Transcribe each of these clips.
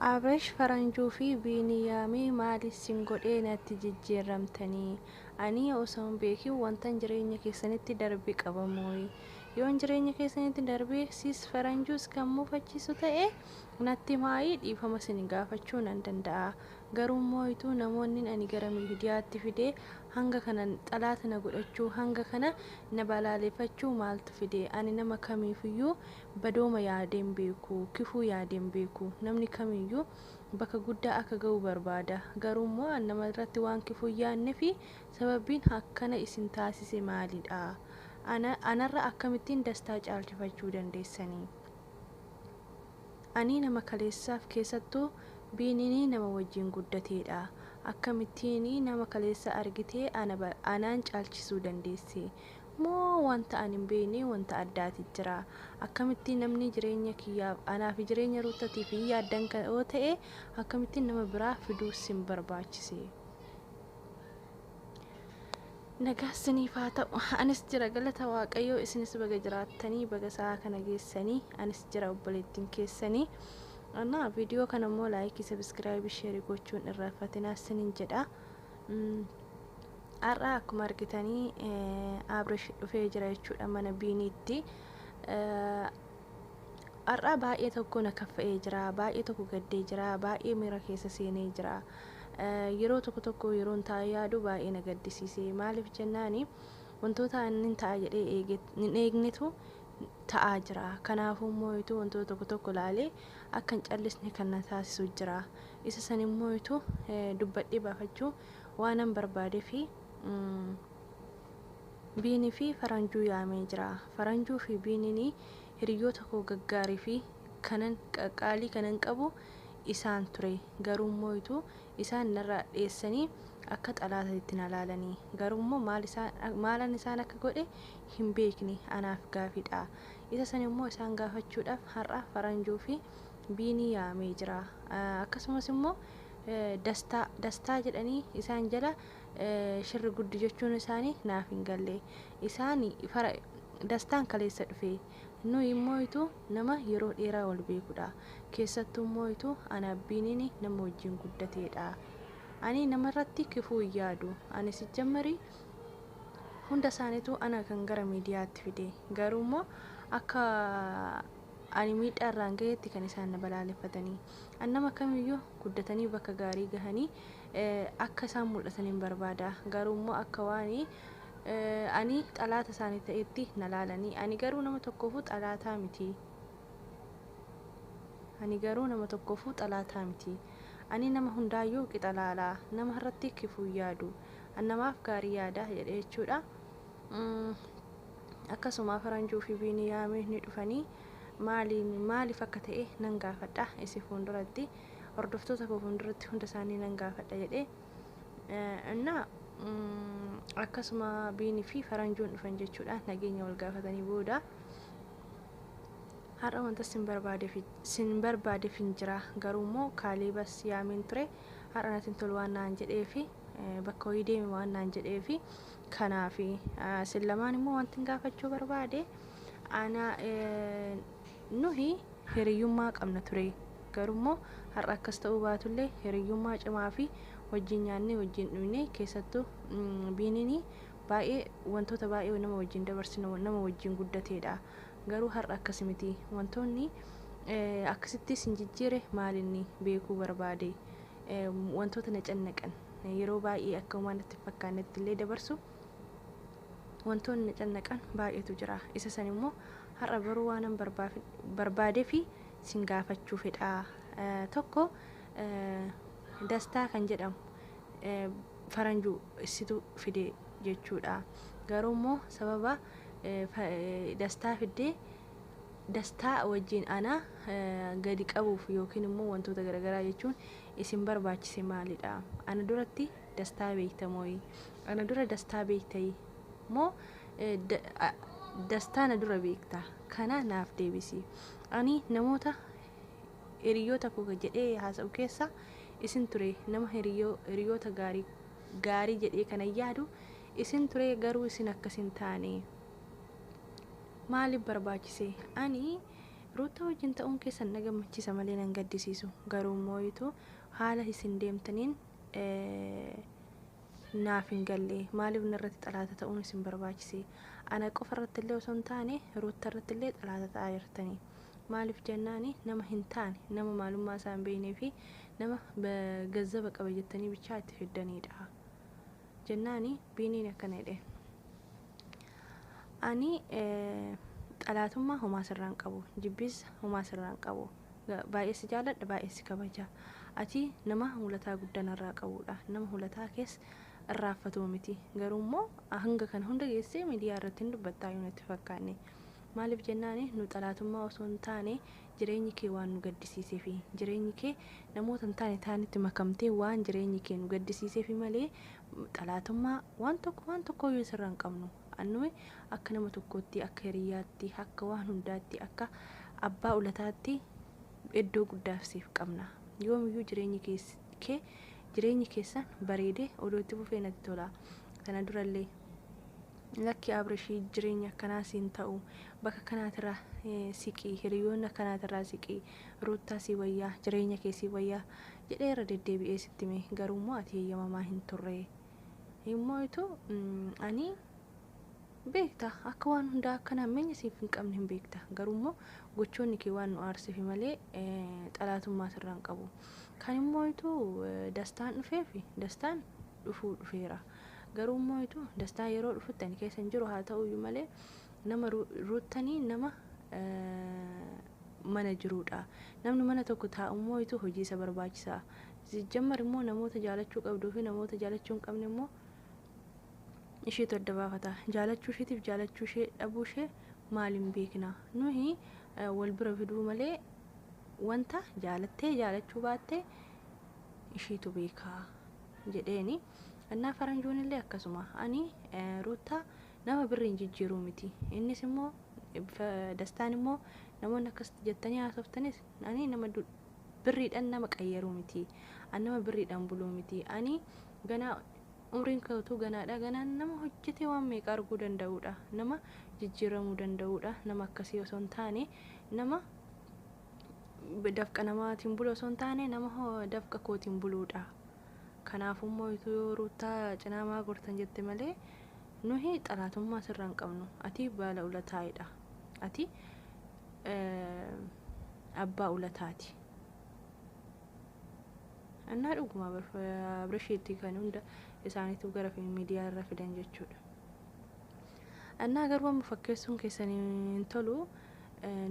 Abrash faranjuu fi biiniyaami maal issin godhee natti jijjiirramtanii anii osoo hin beekin wantan jireenya keessanitti darbe qaba mooyi yoon jireenya keessanitti darbe sis faranjuus kan mufachiisu ta'e natti himaayii dhiifama sini gaafachuu nan danda'a garuu mooyituu namoonnin ani gara miidiyaatti fide hanga kana xalaata na godhachuu hanga kana na balaaleefachuu maaltu fide ani nama kamiifiyyuu Badooma yaadee hin beeku, kifuu yaadee hin beeku. Namni kamiyyuu bakka guddaa akka ga'u barbaada. Garuu immoo an nama irratti waan kifuu hin yaadne fi sababbiin akkana isin taasise maali dha? Ana, anarra akkamittiin dastaa caalchifachuu dandeessanii? Anii nama kaleessaaf keessattuu Biiniinii nama wajjiin guddatee dha. Akkamittiinii nama kaleessa argitee ana, anaan caalchisuu dandeessee? Moo wanta ani hin beekne wanta addaati jira? Akkamitti namni jireenya kiyyaaf, anaa fi jireenya Ruuttatiif hin yaaddan ka yoo ta'e, akkamitti nama biraa fiduu sin barbaachise? Nagaan siniif haa ta'u. Anis jira, galata Waaqayyoo, isinis baga jiraattanii, baga sa'aa kana geessanii. Anis jira, obboleettiin keessanii. Anaa viidiyoo kana immoo laayikii, sabiskiraayibii, sheerii gochuun irraanfatinaa sinin jedha. Mm, Har'a akkuma argitanii Abrish dhufee jira jechuudha mana Biiniitti. Har'a baay'ee tokko na kaffa'ee jira, baay'ee tokko gaddee jira, baay'ee miira keessa seenee jira. Yeroo tokko tokko yeroon taa'ee yaadu baay'ee na gaddisiise. Maaliif jennaani wantoota inni ta'a jedhee eege hin eegnetu ta'aa jira. Kanaafuu immoo ituu wantoota tokko tokko ilaalee akka hin callisne kan na taasisu jira. Isa san immoo ituu dubbadhee baafachuu Waanan barbaadefi Biini fi Faranjuu yaamee jira. Faranjuu fi Biinini hiriyyoota koo gaggaarii fi kanan qaqqaalii kanan qabu isaan ture. Garuummoo itu isaan narraa dheessanii akka xalaatatitti na laalani. Garuummoo maal isaan maalan isaan akka godhe hin beekne anaaf gaafidha. Isa sanimmoo isaan gaafachuudhaaf har'a Faranjuu fi Biini yaamee jira. Akkasumas immoo Dastaa Dastaa jedhanii isaan jala shirri guddi jechuun isaani naaf hin galle. Isaani fara Dastaan kaleessa dhufe. Nuyi immoo itu nama yeroo dheeraa wal beekudha. Keessattuu immoo itu ana Abbiinini nama wajjin guddateedha. Ani nama irratti kifuu hin yaadu. Ani sijjammari hunda isaanitu ana kan gara miidiyaatti fide. Garuu immoo akka ani miidhaa irraan gaheetti kan isaan na balaaleffatanii. Ani nama kamiyyuu guddatanii bakka gaarii gahanii akka isaan mul'ataniin barbaada. Garuu immoo akka waan ani xalaata isaanii ta'eetti na laalanii. Ani garuu nama tokkoofuu xalaataa miti. Ani garuu nama tokkoofuu xalaataa miti. Ani nama hundaayyuu qixa laala. Nama irratti kifuu hin yaadu. Ani namaaf gaarii yaada jedhe jechuudha. Akkasuma Faranjuu fi Biiniyaamiin ni dhufanii. maaliin maaliif akka ta'e nan gaafadha isi fuunduratti hordoftoota koo fuunduratti hunda isaanii nan gaafadha jedhee እና akkasuma biinii fi faranjoon dhufan jechuudha nageenya wal gaafatanii booda har'a wanta sin barbaade fi sin barbaade fin jira garuu immoo kaaliibas yaameen ture har'a natin tolu waan naan jedhee fi bakka hoyii deemi waan naan jedhee fi kanaafi sin lamaan immoo wantin gaafachuu barbaade Ana nuhi hiriyyummaa qabna ture. Garuu immoo har'a akkas ta'uu baatullee hiriyyummaa cimaa fi wajjin nyaannee wajjin dhuyne keessattuu Biiniin baay'ee wantoota baay'ee nama wajjin dabarsinu nama wajjin guddateedha. Garuu har'a akkas miti. Wantoonni akkasitti isin jijjiire maalinni beekuu barbaade. Wantoota na cannaqan yeroo baay'ee akka homaa natti hin fakkaannetti illee dabarsu. Wantoonni na cannaqan baay'eetu jira. Isa san immoo har'a baruu waanan barbaadefi sin gaafachuu fedha. Tokko dastaa kan jedhamu faranju issitu fide jechuudha. Garuu immoo sababa dastaa fiddee dastaa wajjin ana gadi qabuuf yookiin immoo wantoota garagaraa jechuun isin barbaachise maalidha? Ana duratti Dastaa beekta mooyi? Ana dura dastaa beektayi? Moo dastaa na dura beekta? Kana naaf deebisi. Ani namoota hiriyoota koo jedhee haasa'u keessa isin ture nama hiriyoota gaarii gaarii jedhee kana yaadu isin ture garuu isin akkas hin taane maaliif barbaachise ani ruuttaa wajjin ta'uun keessan na gammachiisa malee nan gaddisiisu garuu mooyitu haala isin deemtaniin naaf hin galle maaliif narratti xalaata ta'uun isin barbaachise ana qofa irratti illee osoo hin taane ruutta irratti illee xalaata ta'aa jirtanii maaliif jennaani nama hin taane nama maalummaa isaa hin beeknee fi nama gazzaba qaba jettanii bichaa itti fiddaniidha jennaani biiniin akkana jedhe ani xalaatummaa homaa sirraan qabu jibbiis homaa sirraan qabu Baay'ee si jaaladha baay'een si kabaja. Ati nama hulataa guddaa narraa qabuudha. Nama hulataa kees irraanfatu miti. Garuu immoo hanga kana hunda geessee miidiyaa irratti hin dubbattaayyuu natti fakkaanne. Maaliif jennaan nu xalaatummaa osoo hin taane jireenyi kee waan nu gaddisiiseefi. Jireenyi kee namoota hin taane taanitti makamtee waan jireenyi kee nu gaddisiiseefi malee xalaatummaa waan tokko waan tokkooyyuu sirra hin qabnu. Annume akka nama tokkootti, akka hiriyyaatti, akka waan hundaatti, akka abbaa ulataatti eddoo guddaaf siif qabna. Yoomiyyuu jireenyi kees kee jireenyi keessan bareedee odoo itti fufee natti tola. Tana durallee lakki Abrishi jireenyi akkanaa siin ta'u bakka kanaatirra eh, siqi hiriyoonni akkanaatirraa siqi Ruuttaa sii wayyaa jireenya kee sii wayyaa jedhee irra deddeebi'ee sitti hime garuummoo ati heyyamamaa hin turre. Hin mooytu ani beekta akka waan hundaa akka nammeenya siif hin qabne hin beekta garuu immoo gochoonni kee waan nu aarsifi malee xalaatummaa sirraa hin qabu kan hin mooytu dastaan dhufeefi dastaan dhufuu dhufeera garuu hin mooytu dastaan yeroo dhufutti ani keessa hin jiru haa ta'uyyuu malee nama ruuttanii nama mana jiruudha namni mana tokko taa'u mooytu hojii isa barbaachisaa Sijjammar immoo namoota jaalachuu qabduu fi namoota jaalachuu hin qabne immoo isheetu adda baafata. Jaalachuu isheetiif jaalachuu ishee dhabuu ishee maaliin beekna? Nuhi wal bira fiduu malee wanta jaalattee jaalachuu baattee isheetu beeka jedheeni. Annaa faranjoon illee akkasuma ani ruuttaa nama birriin jijjiiruu miti. Innis immoo dastaan immoo namoonni akkasitti jettanii haasoftanis Ani nama du birriidhan nama qayyaruu miti. An nama birriidhan buluu miti. Ani ganaa umriin kee utuu ganaadha. Ganaan nama hojjetee waan meeqa arguu danda'uudha. Nama jijjiiramuu danda'uudha. Nama akkasii osoo hin taane nama dafqa namaatiin bulu osoo hin taane nama dafqa kootiin buluudha. Kanaaf immoo utuu yoo ruuttaa cinaa maa gortan jette malee nuhi xalaatummaa sirra hin qabnu. Ati baala ulataa'edha. Ati abbaa ulataati. Annaa dhuguma Abrishiitti kan hunda isaaniitu gara miidiyaa irra fidan jechuudha. Annaa garuu amma fakkeessuun keessan hin tolu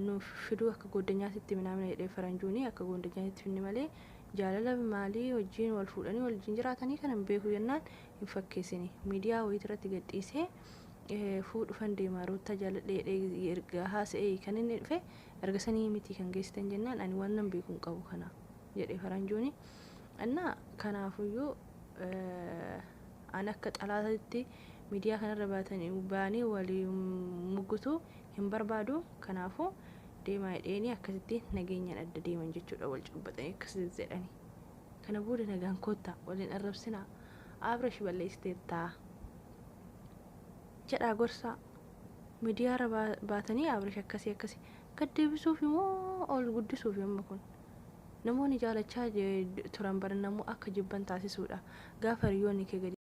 nuuf fiduu akka gooddanyaatitti minaamina jedhee faranjuuni akka gooddanyaatitti finni malee jaalala maalii wajjin wal fuudhanii wal wajjin jiraatanii kana hin beeku jennaan hin fakkeessini miidiyaa wayii irratti gadhiisee fuu dhufan deemaa ruuttaa jaaladhe jedhee erga haasa'ee kan inni dhufe erga sanii miti kan geessitan jennaan ani waan nan beeku hin qabu kana jedhe faranjooni annaa kanaafuyyuu an akka xalaatatti miidiyaa kanarra baatan baanee walii muggutu hin barbaadu kanaafu deemaa jedheeni akkasitti nageenyaan adda deeman jechuudha wal cabbaxanii akkasitti jedhani. Kana booda nagaan koottaa. Wal hin arrabsinaa. Abrash balleessiteettaa. Jedhaa gorsaa. Midiyaarra baatanii Abrash akkasii akkasii. Gad deebisuufi moo ol guddisuufi amma kun? Namoonni jaalachaa turan bar namuu akka jibban taasisuudha. Gaafa hiriyoonni kee gadi.